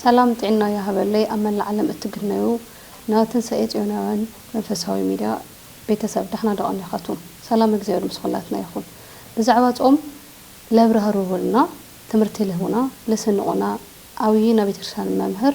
ሰላም ጥዒና ይሃበለይ ኣብ መላእ ዓለም እትግነዩ ን ትንሳኤ ጽዮናውያን መንፈሳዊ ሚድያ ቤተሰብ ዳሕና ዶ ኣሜኻቱም ሰላም እግዚኣብሔር ምስ ኹላትና ይኹን ብዛዕባ ጾም ለብራህሩሁልና ትምህርቲ ልህቡና ልስንቁና ዓውዪ ናቤተክርስቲያን መምህር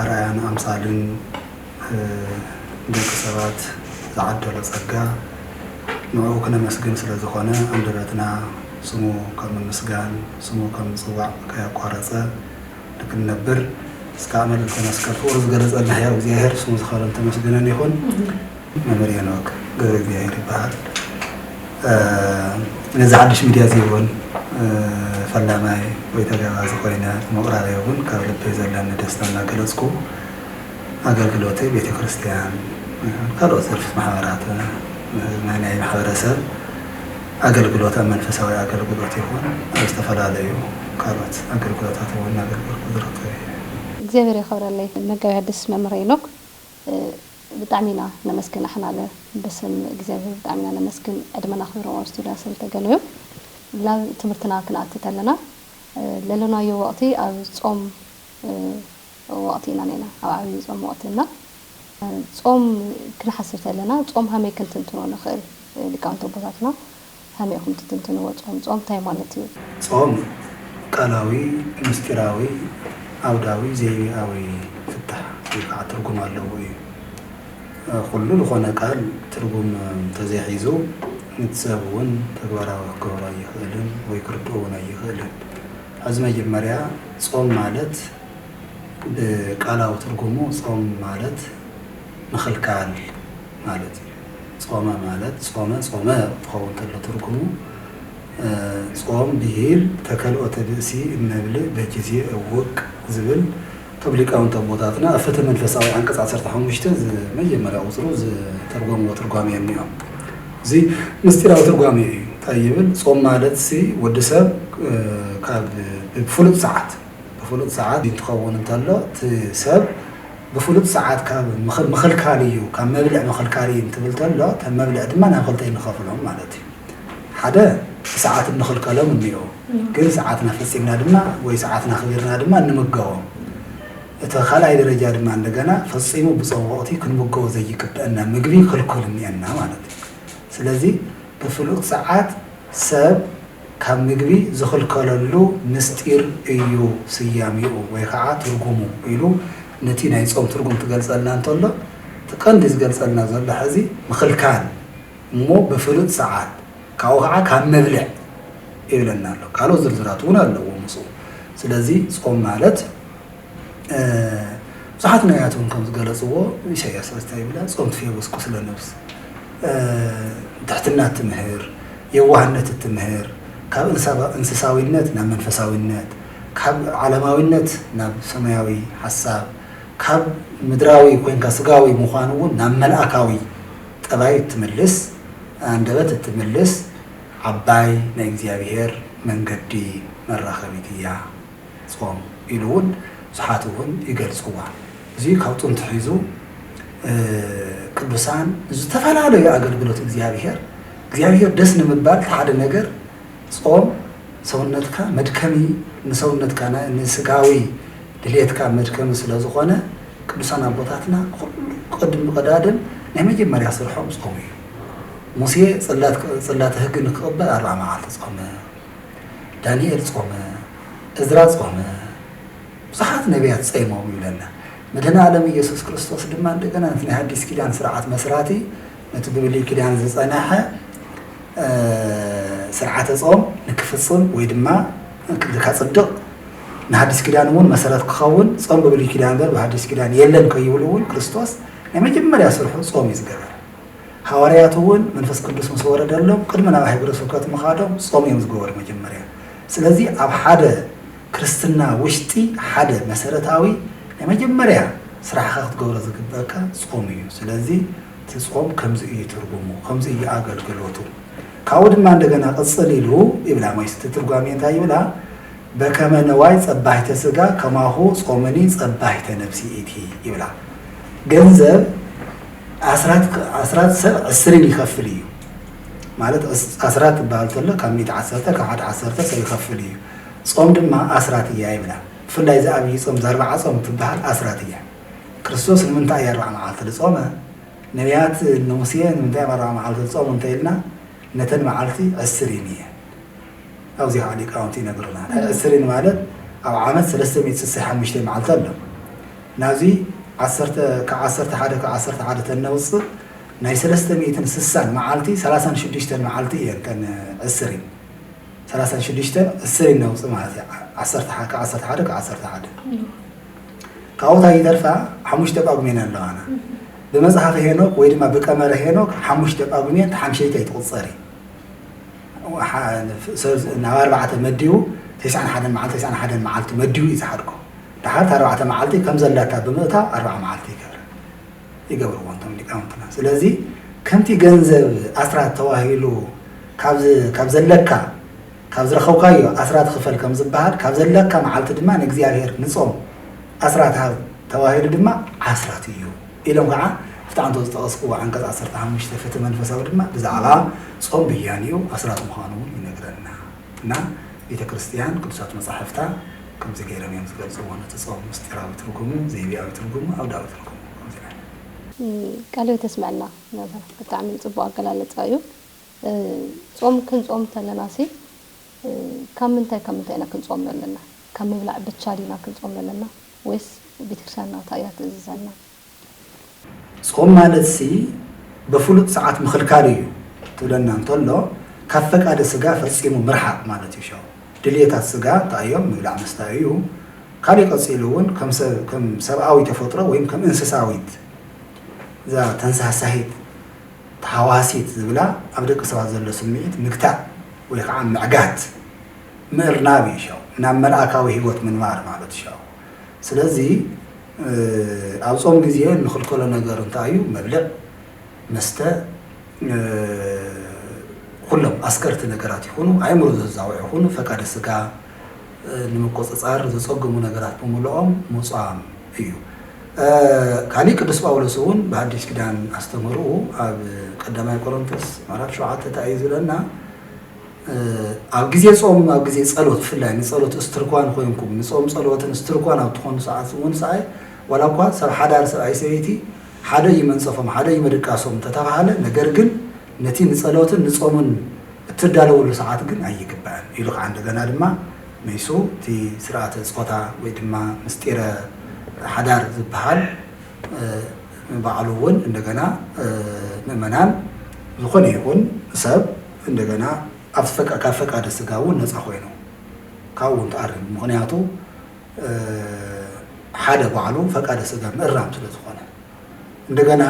ኣርኣያን ኣምሳልን ንደቂ ሰባት ዝዓደሎ ጸጋ ንዕኡ ክነመስግን ስለ ዝኾነ ኣንደበትና ስሙ ካብ ምምስጋን ስሙ ካብ ምጽዋዕ ከያቋረጸ ንክንነብር እስካዕ መልእልተ መስቀል ፍቅሩ ዝገለጸልና ሕያው እግዚኣብሔር ስሙ ዝኸበረን ተመስገነን ይኹን። መምህር ሄኖክ ገብረእግዚኣብሄር ይበሃል። ነዚ ሓድሽ ሚድያ እዚ እውን ፈላማይ ወይ ተጋባዚ ኮይነ ብምቕራበይ እውን ካብ ልቢ ዘለኒ ደስታ እናገለፅኩ ኣገልግሎተይ ቤተክርስትያን ይኹን ካልኦት ዘርፊ ማሕበራት ናይ ናይ ማሕበረሰብ ኣገልግሎት ኣብ መንፈሳዊ ኣገልግሎት ይኹን ኣብ ዝተፈላለዩ ካልኦት ኣገልግሎታት እውን እናገልገልኩ ዝርከብ እየ። እግዚኣብሔር የኽብረለይ መጋቤ ሐዲስ መምህር ሄኖክ። ብጣዕሚ ኢና ነመስግን ኣሕናለ ብስም እግዚኣብሔር ብጣዕሚ ኢና ነመስግን ዕድመና ክብሮም ኣብ ስቱድያ ስለ ተገነዩ ላብ ትምህርትና ክንኣቲ ተለና ለሎናዮ ወቅቲ ኣብ ጾም ወቅቲ ኢና ነና ኣብ ዓብይ ጾም ወቅቲ እና ጾም ክንሓስብ ተለና ጾም ሃመይ ክንትንትኖ ንክእል ሊቃውንቲ ኣቦታትና ከመይ ኢኹም ትትንትንዎ ጾም? ጾም ታይ ማለት እዩ? ጾም ቃላዊ፣ ምስጢራዊ፣ ዓውዳዊ፣ ዘይቤኣዊ ፍታሕ ወይ ከዓ ትርጉም ኣለዎ እዩ። ኹሉ ልኾነ ቃል ትርጉም እንተዘይሒዙ ንቲ ሰብ እውን ተግባራዊ ክገብሮ ኣይኽእልን ወይ ክርድኦ እውን ኣይኽእልን። ሐዚ መጀመርያ ጾም ማለት ብቃላዊ ትርጉሙ ጾም ማለት ምኽልካል ማለት እዩ። ጾመ ማለት ጾመ ጾመ ክኸውን ከሎ ትርጉሙ ጾም ብሂል ተከልኦተ ብእሲ እመብልእ በጅዜ እውቅ ዝብል እቶም ሊቃውንቲ ኣቦታትና ኣብ ፍትህ መንፈሳዊ ዓንቀጽ ዓሰርተ ሓሙሽተ ዝመጀመርያ ቁጽሩ ዝተርጎምዎ ትርጓሜ እኒኦ እዚ ምስጢራዊ ትርጓሜ እዩ ታይ ይብል ጾም ማለትሲ ወዲ ሰብ ካብ ብፍሉጥ ሰዓት ብፍሉጥ ሰዓት እንትኸውን እንተሎ እቲ ሰብ ብፍሉጥ ሰዓት ካብ ምኽልካል እዩ ካብ መብልዕ ምኽልካል እዩ እንትብል ተሎ እተን መብልዕ ድማ ናብ ክልተ እዩ ንኸፍሎም ማለት እዩ ሓደ ብሰዓት እንኽልከሎም እኒኦ ግን ሰዓትና ፈፂምና ድማ ወይ ሰዓትና ክቢርና ድማ እንምገቦም እቲ ካልኣይ ደረጃ ድማ እንደገና ፈፂሙ ብፆም ወቕቲ ክንምገቦ ዘይግበአና ምግቢ ክልኩል እኒአና ማለት እዩ ስለዚ ብፍሉጥ ሰዓት ሰብ ካብ ምግቢ ዝኽልከለሉ ምስጢር እዩ ስያሜኡ ወይ ኸዓ ትርጉሙ ኢሉ ነቲ ናይ ጾም ትርጉም ክገልጸልና እንተሎ እቲ ቀንዲ ዝገልጸልና ዘሎ ሕዚ ምኽልካል እሞ ብፍሉጥ ሰዓት ካብኡ ኸዓ ካብ ምብልዕ ይብለና ኣሎ ካልኦት ዝርዝራትውን ኣለዎ ምስኡ ስለዚ ጾም ማለት ብዙሓት ነቢያት እውን ከም ዝገለጽዎ ኢሳይያስ ራስ እንታይ ይብላ ጾም ትፌውስ ቁስለ ነብስ ትሕትና እትምህር የዋህነት እትምህር ካብ እንስሳዊነት ናብ መንፈሳዊነት ካብ ዓለማዊነት ናብ ሰማያዊ ሓሳብ ካብ ምድራዊ ኮንካ ስጋዊ ምዃን እውን ናብ መልኣካዊ ጠባይ እትምልስ ኣንደበት እትምልስ ዓባይ ናይ እግዚኣብሔር መንገዲ መራኸቢት እያ። ጾም ኢሉ እውን ብዙሓት እውን ይገልጽዋ። እዚ ካብ ጥንቲ ሒዙ ቅዱሳን ንዝተፈላለዩ ኣገልግሎት እግዚኣብሔር እግዚኣብሔር ደስ ንምባል እቲ ሓደ ነገር ጾም ሰውነትካ መድከሚ ንሰውነትካ ን ንስጋዊ ድሌትካ መድከሚ ስለ ዝኾነ ቅዱሳን ኣቦታትና ኩሉ ቅድም ቀዳድም ናይ መጀመርያ ስርሖም ጾም እዩ። ሙሴ ጽላት ጽላተ ህግ ንክቕበል ኣርብዓ መዓልቲ ጾመ። ዳንኤል ጾመ፣ እዝራ ጾመ፣ ብዙሓት ነብያት ጸይሞም ይብለና። መድህነኣለም ኢየሱስ ክርስቶስ ድማ እንደገና ነቲ ናይ ሐዲስ ኪዳን ስርዓት መስራቲ ነቲ ብብሉይ ኪዳን ዝጸነሐ ስርዓተ ጾም ንክፍጽም ወይ ድማ ንካጽድቕ ንሐዲስ ኪዳን እውን መሰረት ክኸውን ጾም ብብሉይ ኪዳን እምበር ብሐዲስ ኪዳን የለን ከይብሉ እውን ክርስቶስ ናይ መጀመርያ ስርሑ ጾም እዩ ዝገበረ። ሃዋርያት እውን መንፈስ ቅዱስ ምስ ወረደሎም ቅድሚ ናብ ሃይገረ ስብከት ምኻዶም ጾም እዮም ዝገበሩ መጀመርያ ስለዚ ኣብ ሓደ ክርስትና ውሽጢ ሓደ መሰረታዊ ናይ መጀመርያ ስራሕኻ ክትገብሮ ዝግበካ ጾም እዩ ስለዚ እቲ ጾም ከምዚ እዩ ትርጉሙ ከምዚ እዩ ኣገልግሎቱ ካብኡ ድማ እንደገና ቅጽል ኢሉ ይብላ መይስ እቲ ትርጓሜ እንታይ ይብላ በከመ ነዋይ ጸባሂተ ስጋ ከማሁ ጾምኒ ጸባሂተ ነብሲ ኢቲ ይብላ ገንዘብ ኣስራት ሰብ ዕስርን ይኸፍል እዩ ማለት ኣስራት ዝበሃል ተሎ ካብ ሚት ዓሰርተ ካብ ሓደ ዓሰርተ ሰብ ይኸፍል እዩ ጾም ድማ ኣስራት እያ ይብላ ብፍላይ እዚ ኣብይ ጾም ዘርባዓ ጾም ትበሃል ኣስራት እያ ክርስቶስ ንምንታይ እያ ኣርባዓ መዓልቲ ዝጾመ ነቢያት ንሙሴ ንምንታይ እዮም ኣርባዓ መዓልቲ ዝጾሙ እንተኢልና ነተን መዓልቲ ዕስሪን እየ ኣብዚ ከዓ ሊቃውንቲ ይነግሩና ዕስሪን ማለት ኣብ ዓመት ሰለስተ ሚእቲ ስሳ ሓሙሽተ መዓልቲ ኣሎ ናብዚ ዓሰርተ ካብ ዓሰርተ ሓደ ካብ ዓሰርተ ሓደ ተነውጽእ ናይ ሰለስተ ሚእትን ስሳን መዓልቲ ሰላሳን ሽዱሽተን መዓልቲ እየን እተን ዕስሪን ሰላሳን ሽዱሽተን ዕስሪን ነውጽእ ማለት እዩ ዓሰርተ ካብ ዓሰርተ ሓደ ካብ ዓሰርተ ሓደ ካብኡ እንታይ ይተርፋ ሓሙሽተ ጳጉሜን ኣለዋና ብመጽሓፈ ሄኖክ ወይ ድማ ብቀመረ ሄኖክ ሓሙሽተ ጳጉሜን ተሓምሸይተ ይትቁጸር እዩ ናብ ኣርባዕተ መዲቡ ተስዓን ሓደን መዓልቲ ተስዓን ሓደን መዓልቲ መዲቡ እዩ ዝሓድጎ ድሓር እታ ኣርባዕተ መዓልቲ ከም ዘላታ ብምእታው ኣርብዓ መዓልቲ ይገብራ ይገብርዎ እቶም ሊቃውንትና ስለዚ ከምቲ ገንዘብ ኣስራት ተዋሂሉ ካብ ካብ ዘለካ ካብ ዝረኸብካዮ ኣስራት ክፈል ከም ዝበሃል ካብ ዘለካ መዓልቲ ድማ ንእግዚኣብሔር ንጾም ኣስራት ሃብ ተዋሂሉ ድማ ዓስራት እዩ ኢሎም ከዓ እቲ ኣንቶ ዝጠቐስክዎ ዓንቀጽ ዓሰርተ ሓሙሽተ ፍትሒ መንፈሳዊ ድማ ብዛዕባ ጾም ብያንኡ ኣስራት ምዃኑ እውን ይነግረና እና ቤተ ክርስቲያን ቅዱሳት መጻሕፍታ ከምዚ ገይሮም እዮም ዝገልጽዎ ነቲ ጾም ምስጢራዊ ትርጉሙ፣ ዘይቤኣዊ ትርጉሙ፣ ኣውዳዊ ትርጉሙ ከምዚ ዓይነት። ቃለ ህይወት የስመዐልና መምህር ብጣዕሚ ፅቡቅ ኣገላልፃ እዩ ፆም ክንፆም ተለናሲ ካብ ምንታይ ካብ ምንታይ ኢና ክንፆም ለለና ካብ ምብላዕ ብቻ ዲና ክንፆም ለለና ወይስ ቤተክርስትያንና ታይ እያ ትእዝዘና ስቆም ማለትሲ በፍሉጥ ሰዓት ምኽልካል እዩ ትብለና እንተሎ ካብ ፈቃደ ስጋ ፈጺሙ ምርሓቅ ማለት እዩ ሸው ድልየታት ስጋ እንታይዮም ምብላዕ ምስታይ እዩ ካሊእ ቀጺሉ ውን ከም ሰብኣዊ ተፈጥሮ ወይም ከም እንስሳዊት እዛ ተንሳሳሂት ተሃዋሲት ዝብላ ኣብ ደቂ ሰባት ዘሎ ስምዒት ምግታእ ወይ ከዓ ምዕጋት ምእርናብ እዩ ሸው ናብ መልኣካዊ ሂወት ምንባር ማለት ሸው ስለዚ ኣብ ጾም ግዜ እንኽልከሎ ነገር እንታይ እዩ? መብልዕ፣ መስተ፣ ኹሎም ኣስከርቲ ነገራት ይኹኑ ኣእምሮ ዘዛውዑ ይኹኑ ፈቃደ ስጋ ንምቁጽጻር ዘጸግሙ ነገራት ብምሉኦም ምጹኣም እዩ። ካሊእ ቅዱስ ጳውሎስ እውን ብኣዲስ ኪዳን ኣስተምህርኡ ኣብ ቀዳማይ ቆሮንቶስ ምዕራፍ ሸውዓተ እንታይ እዩ ዝብለና? ኣብ ግዜ ጾም ኣብ ግዜ ጸሎት ብፍላይ ንጸሎት እስትርኳን ኮይንኩም ንጾም ጸሎትን እስትርኳን ኣብ ትኾኑ ሰዓት እውን ሰኣይ ዋላ እኳ ሰብ ሓዳር ሰብኣይ ሰበይቲ ሓደ እዩ መንጸፎም ሓደ እዩ መድቃሶም እንተተባህለ ነገር ግን ነቲ ንጸሎትን ንጾምን እትዳለውሉ ሰዓት ግን ኣይግባእን ኢሉ ከዓ እንደገና ድማ መይሱ እቲ ስርዓተ ጾታ ወይ ድማ ምስጢረ ሓዳር ዝበሃል ንባዕሉ እውን እንደገና ምእመናን ዝኾነ ይኹን ሰብ እንደገና ኣብቲ ካብ ፈቃደ ስጋ እውን ነፃ ኮይኑ ካብኡ እውን ተኣሪሙ ምክንያቱ ሓደ ባዕሉ ፈቃደ ስጋ ምእራም ስለ ዝኾነ እንደገና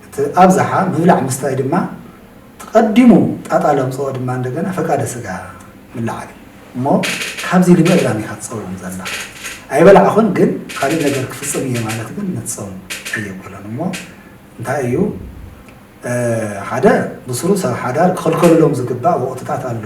እቲ ኣብዛሓ ምብላዕ ምስታይ ድማ ትቀዲሙ ጣጣ ለምፅኦ ድማ እንደገና ፈቃደ ስጋ ምልዓል እዩ እሞ ካብዚ ንምእራም ኢኻ ትፀውም ዘላ ኣይበላዕኹን ግን ካልእ ነገር ክፍፅም እየ ማለት ግን ምትፀውም ኣየብሎን እሞ እንታይ እዩ ሓደ ብስሩ ሰብ ሓዳር ክኽልከሉሎም ዝግባእ ወቕትታት ኣለዉ።